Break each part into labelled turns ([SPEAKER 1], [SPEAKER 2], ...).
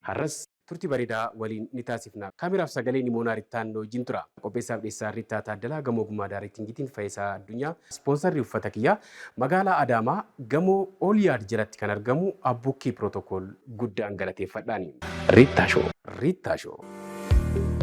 [SPEAKER 1] Harras turti baredaa waliin ni taasifna. Camera fi sagalee Nimoonaa Rittaan nu wajjin tura. Qopheessaa fi dhiyeessaan Rittaa Taaddalaa Gamoo Ogummaa Daarektingiitiin Fayisaa Addunyaa. Ispoonsarri uffata kiyyaa Magaalaa Adaamaa Gamoo All Yard jalatti kan argamu Abbukkii Protocol. guddaan galateeffadhaani. Rittaa Show. Rittaa Show.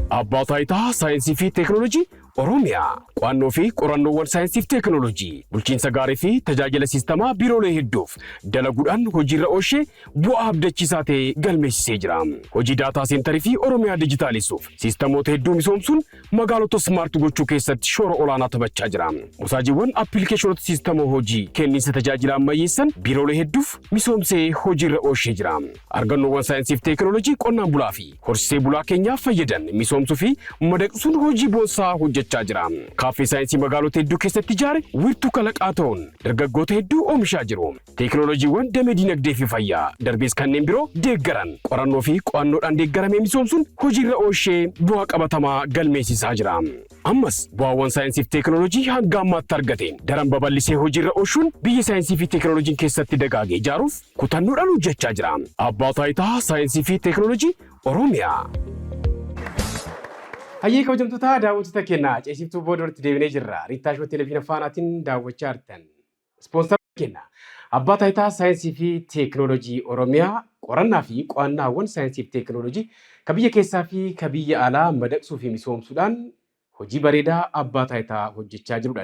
[SPEAKER 1] Abbaa Taayitaa Saayinsii fi Teeknooloojii Oromiyaa, Qo'annoo fi Qorannoowwan Saayinsii fi Teeknooloojii, Bulchiinsa Gaarii fi Tajaajila Siistamaa Biiroolee hedduuf dalaguudhaan hojiirra oolshee bu'aa abdachiisaa ta'e galmeessisee jira. Hojii Daataa Seentarii fi Oromiyaa Dijitaalessuuf siistamoota hedduu misoomsuun magaalota Smart gochuu keessatti shoora olaanaa taphachaa jira. Mosaajiiwwan Appilikeeshinoota Siistama Hojii kenniinsa tajaajila ammayyeessan biiroolee hedduuf misoomsee hojiirra oolshee jira. Argannoowwan Saayinsii fi Teeknooloojii Qonnaan Bulaa fi. Horsisee bulaa keenya fayyadan misoomsuu fi madaqsuun hojii boonsaa hojjechaa jira. Kaaffee saayinsii magaalota hedduu keessatti ijaare wiirtuu kalaqaa ta'uun dargaggoota hedduu oomishaa jiru. Teekinooloojiiwwan damee diinagdee fi fayyaa darbees kanneen biroo deeggaran qorannoo fi qo'annoodhaan deeggaramee misoomsuun hojiirra oolshee bu'aa qabatamaa galmeessisaa jira. Ammas bu'aawwan saayinsii fi teekinooloojii hanga ammaatti argateen daran babal'isee hojiirra oolchuun biyya saayinsii fi teekinooloojiin keessatti dagaage ijaaruuf kutannoodhaan hojjechaa jira. Abbaa Taayitaa Saayinsii fi Teeknooloojii Oromiyaa. Hayyee kabajamtoota daawwattoota keenya ceesiftuu booda walitti deebinee jirra. Riittaa Shoo Televiziina Faanaatiin daawwachaa jirtan. Ispoonsaroonni keenya Abbaa Taayitaa Saayinsii fi Teeknooloojii Oromiyaa qorannaa fi qo'annaawwan saayinsii fi teeknooloojii ka biyya keessaa fi ka biyya alaa madaqsuu fi misoomsuudhaan hojii bareedaa Abbaa Taayitaa hojjechaa jirudha.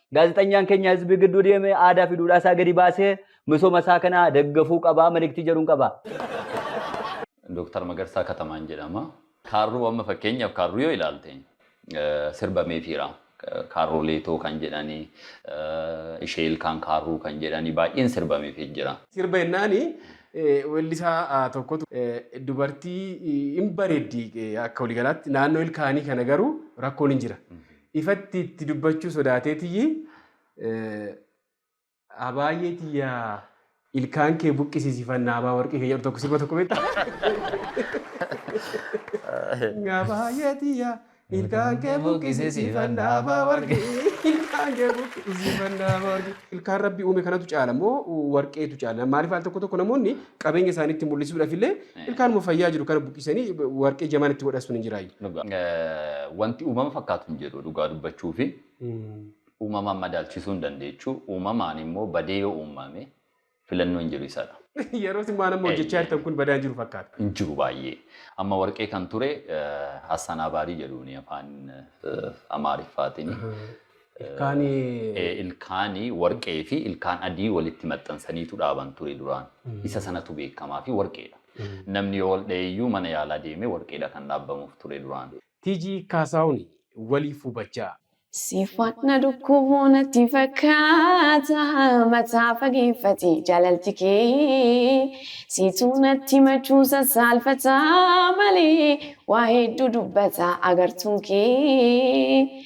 [SPEAKER 2] Gaazexanyaan keenya hizbii gidduu deemee aadaa fi duudhaa isaa gadi baasee misooma isaa kana daggafuu qaba maliktii jedhuun qaba.
[SPEAKER 3] Dooktar Magarsaa Katamaan jedhama. Kaarruu amma fakkeenyaaf kaarruu yoo ilaalte sirba meefiira. Kaarruu leetoo kan jedhani, ishee ilkaan kaarruu kan jedhani baay'een sirba meefii jira. Sirba jennaani
[SPEAKER 1] weellisaa tokkotu dubartii hin bareeddi akka waliigalaatti naannoo ilkaanii kana garuu rakkoon hin jira. Ifatti itti dubbachuu sodaateetiyyi Abaayee tiyya ilkaan kee buqqisiisi fannaa abaa warqii kee jedhu tokko sirba tokko beekta. Abaayee tiyya ilkaan kee buqqisiisi fannaa abaa warqii ilkaan kee buqqisiisi fannaa abaa warqii. Ilkaan rabbi uume kanatu caala moo warqeetu caala? Maaliif al tokko tokko namoonni qabeenya isaanii itti mul'isuudhaaf illee Ilkaanuma fayyaa jiru kana buqqisanii warqee jamaan itti godhastuun hin jiraayyu. Wanti
[SPEAKER 3] uumama fakkaatu hin jedhu dhugaa dubbachuu fi uumamaan madaalchisuu hin dandeechu. Uumamaan immoo badee yoo uumame filannoo hin jiru isadha. Yeroo isin waan amma
[SPEAKER 1] hojjechaa jirtan kun badaa hin jiru fakkaata. Hin jiru baay'ee.
[SPEAKER 3] Amma warqee kan ture Hassan Abaarii jedhuuni afaan Amaariffaatiin. Ilkaani Ee, ilkaani warqee fi ilkaan adii walitti maxxansaniitu dhaaban ture duraan. Isa sanatu beekamaa fi warqeedha. Namni yoo wal dhayeyyuu mana yaalaa deemee warqeedha kan dhaabbamuuf ture duraan. TG Kaasaahun
[SPEAKER 1] waliif hubachaa. Siifan na
[SPEAKER 4] dhukkubuu natti fakkaata Mataa fageeffati jaalalti kee Siitu natti himachuu sassaalfata Malee waa hedduu dubbata agartuun kee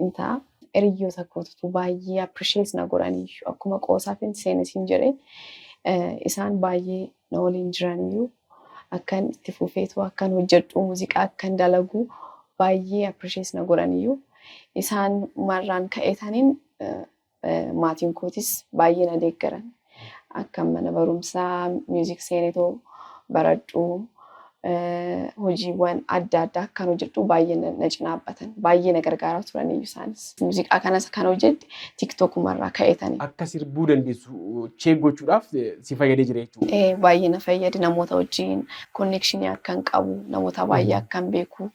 [SPEAKER 4] hin ta'a. Hiriyyoota kootutu baay'ee appreciate na godhaniyyuu akkuma qoosaafin seene siin jedhe isaan baay'ee na waliin jiraniyyuu akkan itti fufeetu akkan hojjedhu muuziqaa akkan dalagu baay'ee appreciate na godhaniyyuu isaan marraan ka'eetaniin Maatiin kootis baay'ee na deeggaran. Akkan mana barumsaa miuzik seenetoo baradhu, hojiiwwan adda addaa akkan hojjedhu baay'ee na cinaabbatan. Baay'ee na gargaaraa turaniyyuu isaanis. Muuziqaa kanas kan hojjedhe tiktokuma irraa ka'eetani. Akka sirbuu dandeessu
[SPEAKER 1] cheek gochuudhaaf si fayyadee jira jechuudha. Ee baay'ee na fayyade
[SPEAKER 4] namoota wajjin konneekshinii akkan qabu, namoota baay'ee akkan
[SPEAKER 1] beeku.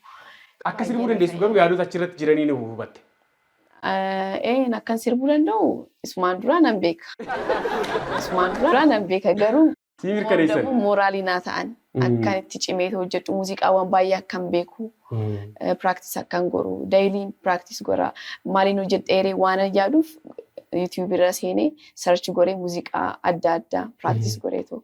[SPEAKER 1] Akka
[SPEAKER 4] sirbuu
[SPEAKER 1] dandeessu garuu yaadota achirratti
[SPEAKER 4] jiraniin
[SPEAKER 1] hubatte. Eeyyeen
[SPEAKER 4] akkan sirbuu danda'u isumaan duraa nan beeka. Isumaan duraa nan beeka garuu. Sii mirkaneessan. Immoo
[SPEAKER 1] mooraalii naa ta'an
[SPEAKER 4] akkan itti cimee hojjedhu muuziqaawwan baay'ee akkan beeku practice akkan godhu daily practice godha maaliin hojjedheeree waanan yaaduuf YouTube irra seenee search godhee muuziqaa adda addaa practice godheetu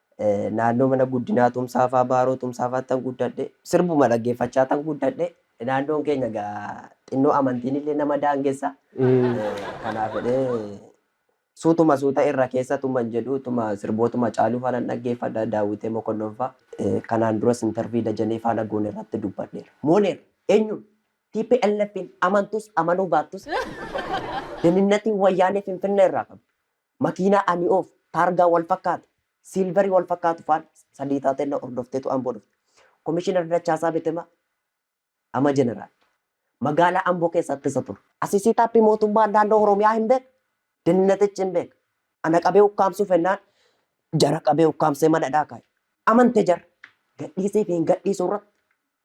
[SPEAKER 5] Naannoo mana guddinaa Tumsaafaa, Baaroo Tumsaafaattan guddadhe. Sirbuma dhaggeeffachaatan guddadhe. Naannoon keenya egaa xinnoo amantiinillee nama daangessa. Kanaaf jedhee suutuma suuta irra keessa tuman jedhu tuma sirbootuma Hacaaluufaa nan dhaggeeffadha, Daawwitee Mokonnonfaa. Kanaan duras intervii Dajanee Faana goonerratti dubbadheera. Mooneera. Eenyuun? TPLFn amantus amanuu baattus deninnatiin Wayyaanee Finfinneerraa qabdu. Makiinaa ani oofu, taargaa wal fakkaatu, silver wal fakkaatu faan sadii taatee na hordofteetu Amboo dhufte. Komishinar Dachaasaa Betemaa, ama Jeneraal, magaalaa Amboo keessa ittisa ture. Asi setup mootummaan naannoo Oromiyaa hin beeka, dennatichi hin beeka. Ana qabee ukkaamsuu fennaan jara qabee ukkaamsee mana hidhaa kaa'e. Amante jarri. Gadhiisiifi hin gadhiisu irratti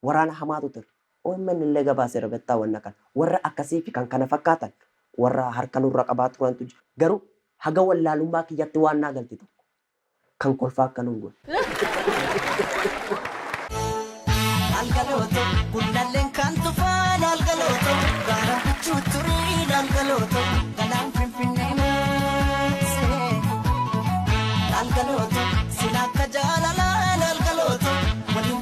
[SPEAKER 5] Waraana hamaatu ture. Omn illee gabaaseera bettaa wanna kana. Warra akkasii fi kan kana fakkaatan warra harka nurra qabaa turantu jira. Garuu haga wallaalummaa kiyyatti waan naa galte tokko. Kan kolfaa akka nun goone. Laal
[SPEAKER 6] galooto gullalleen kan tufaa laal galooto gaara bichuu turii laal galooto galaan finfinnee maasee laal galooto sila akka jaalalaa laal galooto waliin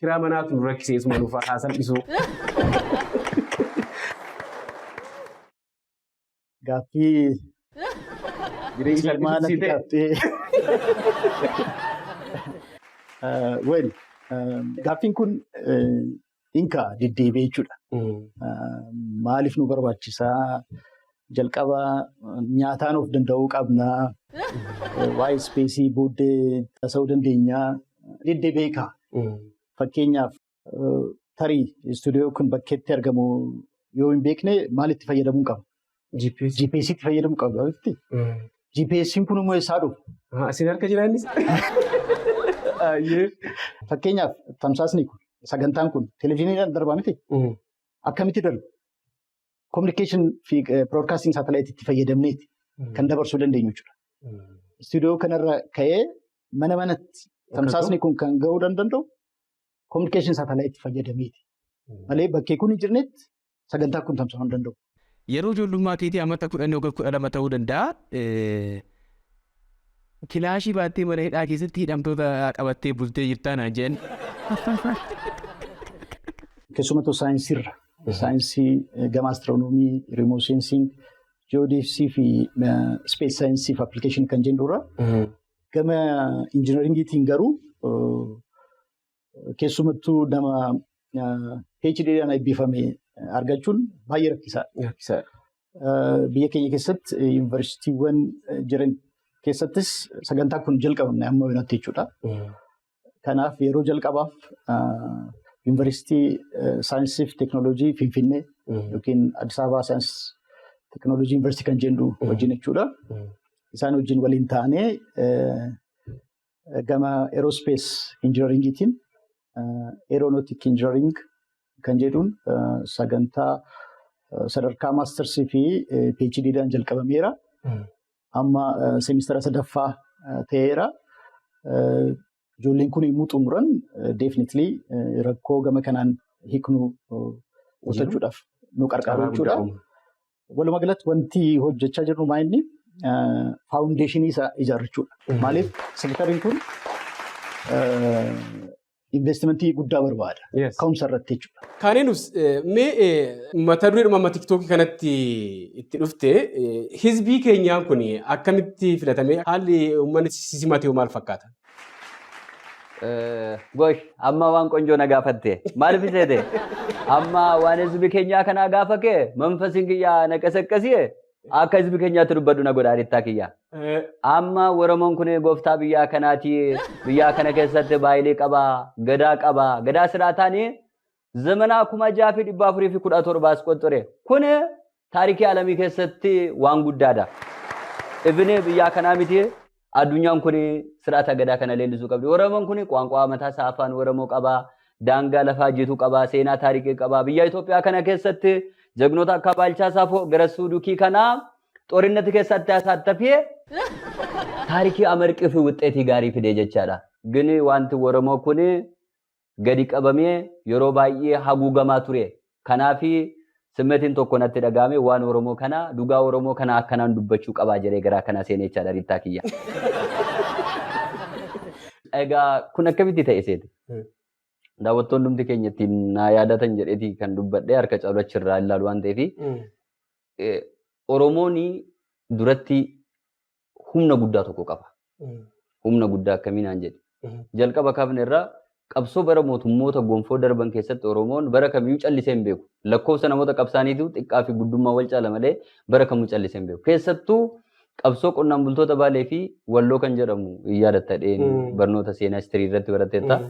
[SPEAKER 1] Kiraa manaatu nu rakkisee isuma nuuf haa salphisuu.
[SPEAKER 7] Gaaffii Jireenyi ilmaa natti salphisuu qabxee. Eh, Well, eh, gaaffiin kun eh, inka deddeebi'ee jechuudha. Eh, Maaliif nu barbaachisaa? jalqaba nyaataan of danda'uu qabna. Waa'ee ispeesii booddee tasa'uu dandeenya. Diddee beeka. Fakkeenyaaf tarii istuudiyoo kun bakkeetti argamu yoo hin beekne maalitti fayyadamuu qaba? GPS. GPSitti fayyadamuu qaba. GPSiin kun immoo eessaa dhufa? Asin harka jiraannis. Fakkeenyaaf tamsaasni kun sagantaan kun televezyiiniidhaan darbaa miti? Akkamitti darba? communication fi broadcasting satellite itti fayyadamneeti kan dabarsuu dandeenyu jechuudha. Istuudiyoo kanarra ka'ee mana manatti tamsaasni kun kan ga'uu danda'u communication satellite fayyadameeti. Malee bakkee kun hin jirnetti sagantaa kun tamsaa'uu hin danda'u. Yeroo ijoollummaa
[SPEAKER 8] keetii amata kudhan yookaan kudha lama ta'uu danda'a. Kilaashii baattee mana hidhaa keessatti hidhamtoota qabattee bultee jirtaa naan jedhan. Keessumattuu
[SPEAKER 7] saayinsiirra saayinsii gama astiroonoomii, rimoo seensiing, ji'oodeefsii fi ispees saayinsii fi appilikeeshinii kan jennu irra gama injinaringiitiin garuu keessumattuu nama PHD'dhaan eebbifame argachuun baay'ee rakkisaadha. Biyya keenya keessatti yuunivarsiitiiwwan jiran keessattis sagantaa kun jalqabamne amma yoonatti jechuudha. kanaaf yeroo jalqabaaf yuunivarsiitii saayinsii fi teeknooloojii Finfinnee yookiin Addis Ababaa saayinsii teeknooloojii yuunivarsiitii kan jennu wajjin jechuudha. Isaan wajjin waliin taanee gama eeroospees injinaringiitiin eeroonotik injinaring kan jedhuun sagantaa sadarkaa maastarsii fi PhDdhaan jalqabameera. amma seemistara sadaffaa ta'eera. Ijoolleen kun yommuu xumuran definitely rakkoo gama kanaan hiiknu qusachuudhaaf nu qarqaru jechuudha. Walumaa galatti wanti hojjechaa jirru maa inni faawundeeshinii isaa ijaarrachuudha. Maaliif sektariin kun investimentii guddaa barbaada. Yes. Ka'umsa irratti jechuudha. Kaaneenus
[SPEAKER 1] mee mata duree dhuma tiktookii kanatti itti dhufte hizbii keenyaan kun akkamitti filatame haalli uummanni simatee maal fakkaata?
[SPEAKER 2] Gosh, amma waan qonjoo na gaafatte. Maaliif seete? Amma waan hizbi keenyaa kanaa gaafa kee manfasiin kiyyaa na qasaqqasiye Akka hizbi keenyaatti dubbadhu na godha arittaa kiyya. Amma Oromoon kun gooftaa biyyaa kanaati. Biyyaa kana keessatti baay'ee qaba, gadaa qaba. Gadaa siraataan zamanaa kuma jaha fi dhibba afurii fi kudha torbaas qoxxore. Kun taarikii alamii keessatti waan guddaadha. Ibini biyyaa kanaa miti Addunyaan kun sir'ata gadaa kana leellisuu qabdi. Oromoon kun qaanqaa mataa isaa afaan Oromoo qaba. Daangaa lafaa jitu qaba. Seenaa taariikii qaba. Biyya Itoophiyaa kana keessatti jagnoota akka Baalchaa Saafoo Garassuu Dukii kana xorinnati keessatti asaattafee taarikii amarqii fi wuxxeetii gaarii fidee jechaadha. Gini wanti Oromoo kun gadi qabamee yeroo baay'ee haguugamaa ture. Kanaaf simmetiin tokko natti dhaga'ame waan Oromoo kana dhugaa Oromoo kana akkanaan dubbachuu qabaa jedhee garaa kana seenee jechaadha Riittaa kiyya. Egaa kun akkamitti ta'e seete? Daawwattoon dhumti keenya ittiin naa yaadatan jedheeti kan dubbadhee harka caalu achirraa ilaalu waan ta'eef Oromoon duratti humna guddaa tokko qaba. Humna guddaa akkamii naan jedhe. Jalqaba kaafne irraa qabsoo bara mootummoota gonfoo darban keessatti Oromoon bara kamiyyuu callisee hin beeku. Lakkoofsa namoota qabsaaniitu xiqqaa fi guddummaa wal caala malee bara kamuu callisee hin beeku. Keessattuu qabsoo qonnaan bultoota Baalee fi Walloo kan jedhamu yaadatta dheen barnoota seenaa istirii irratti baratteetta.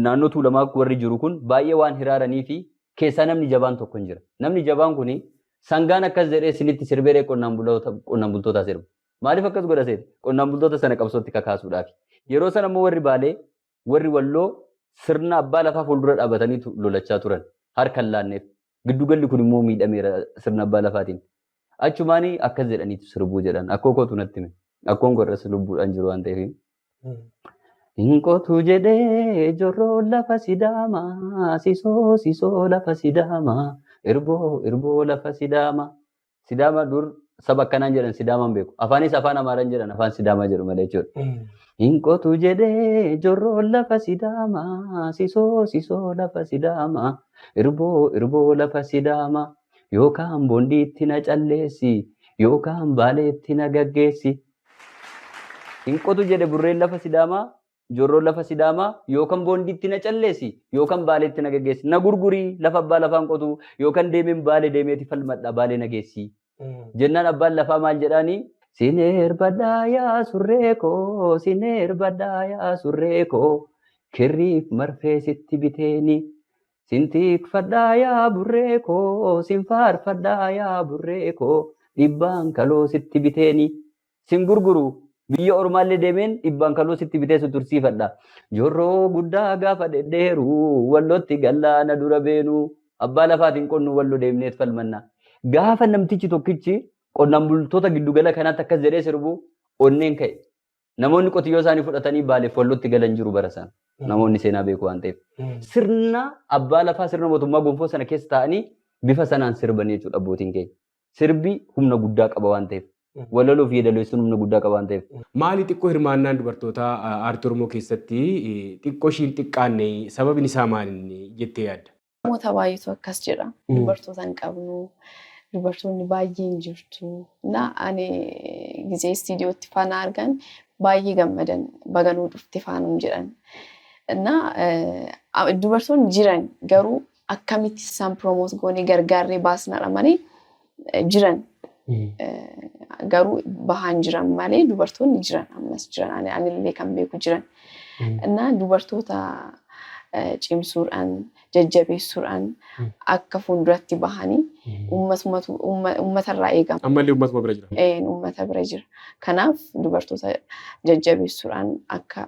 [SPEAKER 2] naannoo Tuulamaa warri jiru kun baay'ee waan hiraaranii fi keessaa namni jabaan tokko hin jira. Namni jabaan kun sangaan akkas jedhee sinitti sirbeeree qonnaan buloota- qonnaan bultootaa sirba. Maaliif akkas godha seete? Qonnaan bultoota sana qabsootti kakaasuudhaaf. Yeroo sana immoo warri Baalee, warri Walloo sirna abbaa lafaa fuuldura dhaabataniitu lolachaa turan. Harka hin laanneef. Giddu galli kun immoo miidhameera sirna abbaa lafaatiin. Achumaan akkas jedhaniitu sirbuu jedhan. Akkoo kootu natti hime. Akkoon koo irras lubbuudhaan jiru waan ta'eef. Hin qotu jedhee jorroo lafa sidaamaa sisoo sisoo lafa sidaamaa irboo irboo lafa sidaamaa Sidaama dur saba akkanaan jedhan Sidaamaan beeku. Afaanis afaan Amaaraan jedhan afaan Sidaamaa jedhu malee jechuudha. Hin qotu jedhee jorroon lafa Sidaamaa sisoo sisoo lafa Sidaamaa irboo irboo lafa Sidaamaa yookaan bondiitti na calleessi yookaan baaleetti na gaggeessi. Hin qotu jedhe burreen lafa Sidaamaa Jorroo lafa Sidaamaa yookan Boondiitti na calleesi yookan Baaleetti na geggeessi. Na gurguri lafa abbaa lafaan qotu yookan deemeen Baale deemeeti falmadha Baalee na geessi. Jennaan abbaan lafaa maal jedhaani? Sin erbadhaa yaa surree koo sin erbadhaa yaa surree koo kirriif marfee sitti biteeni. Sin tikfadhaa yaa burree koo sin faarfadhaa yaa burree koo dhibbaan kaloo sitti biteeni. Sin gurguru. Biyya ormaallee deemeen dhibbaan kaloo sitti bitee si tursiifadha. Jorroo guddaa gaafa dhedheeru wallootti gallaana dura beenu. Abbaa lafaatiin qonnu wallo deemneet falmanna. Gaafa namtichi tokkichi qonnaan bultoota giddugala kanaatti akkas jedhee sirbu onneen ka'e. Namoonni qotiyyoo isaanii fudhatanii baaleef wallootti galan jiru bara sana. Namoonni seenaa beeku waan ta'eef. Sirna abbaa lafaa sirna mootummaa gonfoo sana keessa taa'anii bifa sanaan sirbanii jechuudha abbootiin keenya. Sirbi humna guddaa qaba waan ta'eef. Walaloo fi yeedaloessuun humna guddaa qaba waan ta'eef. Maali xiqqoo hirmaannaan
[SPEAKER 1] dubartootaa aartii Oromoo keessatti xiqqoo ishii hin xiqqaanne sababin isaa maalinni jettee yaadda? Namoota baay'eetu
[SPEAKER 4] akkas jedha. Dubartoota hin qabnu, dubartoonni baay'ee hin jirtu. Na ani gizee istiidiyootti faa na argan baay'ee gammadan baga nuu dhufte faa nuun jedhan. Na dubartoonni jiran garuu akkamitti isaan promote goone gargaarree baasnadha malee eh, jiran eh, garuu bahaan jiran malee dubartoonni jiran ammas jiran ani anillee kan beeku jiran innaa dubartoota eh, cimsuudhaan jajjabeessuudhaan Mm. akka fuulduratti bahanii ummatumatu- umma- ummatarraa eegama. Ammallee uummatuma bira jira.
[SPEAKER 1] Een, Uummata bira jira.
[SPEAKER 4] Kanaaf dubartoota jajjabeessuudhaan akka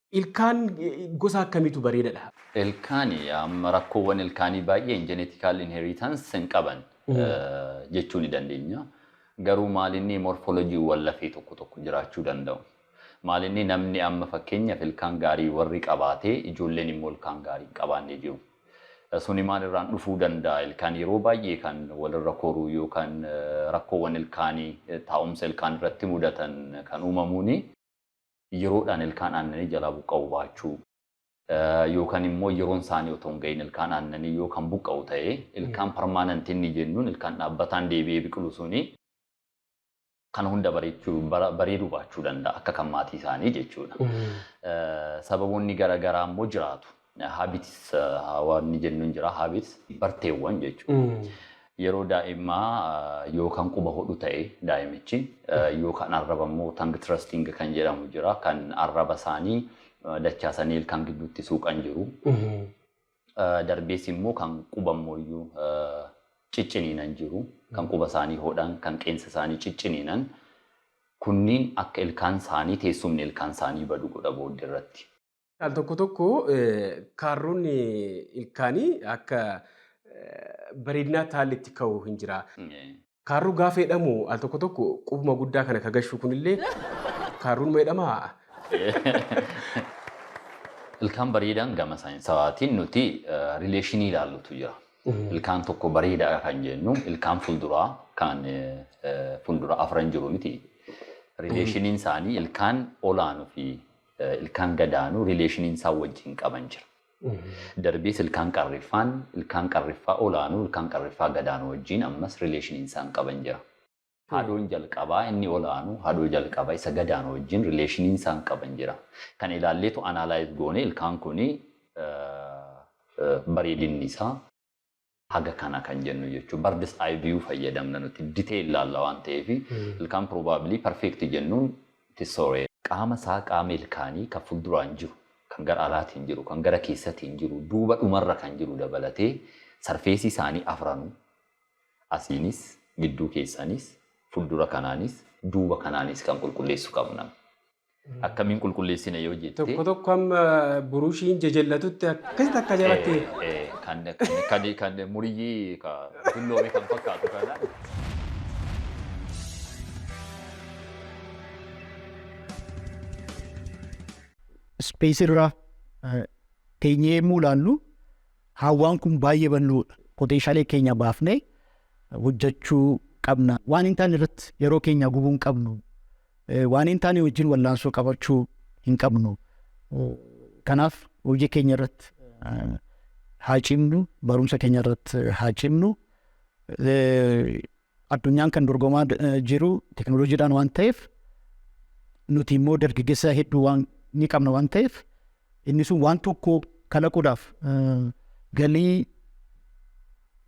[SPEAKER 1] Ilkaan gosa akkamiitu bareeda dha? Ilkaani
[SPEAKER 3] amma rakkoowwan ilkaanii baay'een genetical inheritance hin qaban jechuu ni dandeenya. Garuu maal inni morphology wwan lafee tokko tokko jiraachuu danda'u. Maal inni namni amma fakkeenyaf ilkaan gaarii warri qabaatee ijoolleen immoo ilkaan gaarii hin qabaanne jiru. Suni maal irraan dhufuu danda'a ilkaan yeroo baay'ee kan wal irra koruu yookan rakkoowwan ilkaanii taa'umsa ilkaan irratti mudatan kan uumamuuni. yeroodhaan ilkaan aannanii jalaa buqqa'uu baachuu, yookaan immoo yeroon isaanii otoo hin ga'iin ilkaan aannanii yoo kan buqqa'u ta'e, ilkaan permanent inni jennuun ilkaan dhaabbataan deebi'ee biqilu suni kana hunda bareechuu, bareeduu baachuu danda'a akka kan maatii isaanii jechuudha. Sababoonni gara garaa immoo jiraatu. Habits wanni jennuun jira. Habits barteewwan jechuudha. Yeroo daa'immaa yoo kan quba hodhu ta'e daa'imichi yoo kan arraba immoo tongue thrusting kan jedhamu jira. Kan arraba isaanii dachaasanii ilkaan gidduutti suuqan jiru. Darbees immoo kan quba immoo iyyuu cicciniinan jiru. Kan quba isaanii hodhan, kan qeensa isaanii cicciniinan kunniin akka ilkaan isaanii teessumni ilkaan isaanii badu godha booddee irratti. Al tokko tokko
[SPEAKER 1] kaarroon ilkaanii akka bareedinaa taallitti ka'u hin jira. Kaarruu gaafa jedhamu al tokko tokko qubuma guddaa kana ka gashuu kunillee kaarruun ma jedhama?
[SPEAKER 3] Ilkaan bareedaan gama saayinsawaatiin nuti rileeshinii ilaallutu jira. Ilkaan tokko bareedaadha kan jennu ilkaan fuulduraa kan fuuldura afran jiru miti. Rileeshiniin isaanii ilkaan olaanu fi ilkaan gadaanu rileeshiniin isaan wajjin qaban jira. Darbees ilkaan qarriffaan ilkaan qarriffaa olaanuu ilkaan qarriffaa gadaanu wajjin ammas rileeshiniin isaan qaban jira. Haadhoon jalqabaa inni olaanu haadhoo jalqaba isa gadaanu wajjin rileeshiniin isaan qaban jira. Kana ilaalleetu analyze goone ilkaan kuni bareedinni isaa. haga kana kan jennu jechuudha. Bird's eye view fayyadamna nuti detail laalla waan ta'eef ilkaan probably perfect jennuun it is sorry. Qaama isaa qaama ilkaanii kan fulduraan jiru, kan gara alaatiin jiru, kan gara keessatiin jiru, duuba dhumarra kan jiru dabalatee sarfeesii isaanii afranuu asiinis, gidduu keessanis, fuldura kanaanis, duuba kanaanis kan qulqulleessu qabna. akkamiin qulqulleessina yoo jette. Tokko tokko amma
[SPEAKER 1] burushiin jajallatutti akkasitti akka jalatti. Kan kan
[SPEAKER 3] kan muriyyii ka dulloome kan fakkaatu kana.
[SPEAKER 7] Ispeesii irraa teenyee yommuu ilaallu hawwaan kun baay'ee bal'oodha. Poteenshaalee keenya baafnee hojjechuu qabna. Waan hin taane irratti yeroo keenya gubuu hin qabnu. Waan hin taane wajjin wallaansoo qabachuu hin qabnu. Kanaaf hojii keenya irratti haa cimnu, barumsa keenya irratti haa cimnu. Addunyaan kan dorgomaa jiru teknooloojiidhaan waan ta'eef nuti immoo dargaggeessaa hedduu waan ni qabna waan ta'eef inni sun waan tokko kalaquudhaaf galii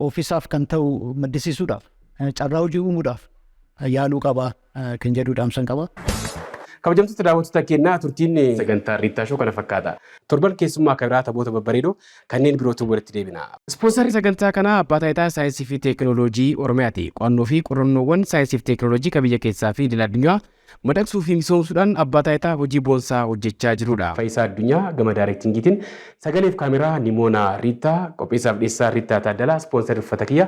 [SPEAKER 7] ofisaaf kan ta'u maddisiisuudhaaf carraa hojii uumuudhaaf yaaluu qabaa. kan jedhu dhaamsan qaba. Kabajamtoota
[SPEAKER 1] daawwattoota keenyaa turtiin sagantaa Riittaa Shoo kana fakkaata. Torban keessummaa kan biraa taphoota babbareedoo kanneen birootiin walitti deebina. Ispoonsarri sagantaa kanaa Abbaa Taayitaa Saayinsii fi Teekinooloojii Oromiyaati. Qo'annoo fi qorannoowwan saayinsii fi teekinooloojii kan biyya keessaa fi idil addunyaa madaqsuu fi misoomsuudhaan Abbaa Taayitaa hojii boonsaa hojjechaa jirudha. Fayisaa Addunyaa gama daarektingiitiin, sagalee fi kaameraa Nimoonaa Riittaa, qopheessaaf dhiyeessaa Riittaa Taaddalaa, ispoonsarri uffata kiyya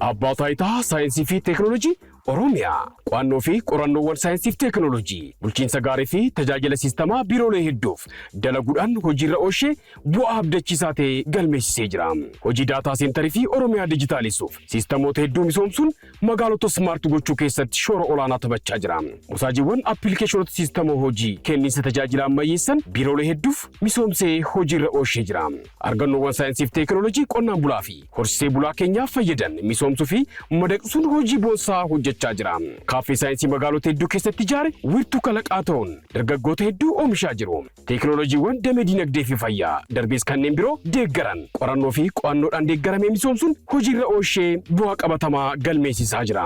[SPEAKER 1] Abbaa Taayitaa Saayinsii fi Teekinooloojii Oromiyaa. Qo'annoo fi qorannoowwan saayinsii fi teekinooloojii, bulchiinsa gaarii fi tajaajila siistamaa biiroolee hedduuf dalaguudhaan hojiirra oolchee bu'aa abdachiisaa ta'e galmeessisee jira. Hojii daataa seentarii fi Oromiyaa dijitaalessuuf siistamoota hedduu misoomsuun magaalota smart gochuu keessatti shoora olaanaa taphachaa jira. Mosaajiiwwan appilikeeshonota siistama hojii kenniinsa tajaajila ammayyeessan biiroolee hedduuf misoomsee hojiirra oolshee jira. Argannoowwan saayinsiif teekinooloojii qonnaan bulaa fi horsisee bulaa keenyaaf fayyadan misoomsuu fi madaqsuun hojii boonsaa hojjechaa jira. Kaaffee saayinsii magaalota hedduu keessatti ijaare wiirtuu kalaqaa ta'uun dargaggoota hedduu oomishaa jiru. Teeknooloojiiwwan damee diinagdee fi fayyaa, darbees kanneen biroo deeggaran qorannoo fi qo'annoodhaan deeggaramee misoomsuun hojiirra ooshee bu'aa qabatamaa galmeessisaa jira.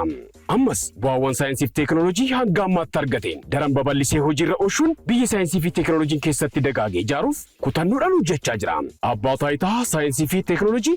[SPEAKER 1] Ammas bu'aawwan saayinsii fi teeknooloojii hanga ammaatti argateen daran babal'isee hojiirra ooshuun biyya saayinsii fi teeknooloojiin keessatti dagaage ijaaruuf kutannoodhaan hojjechaa jira. Abbaa Taayitaa Saayinsii fi Teeknooloojii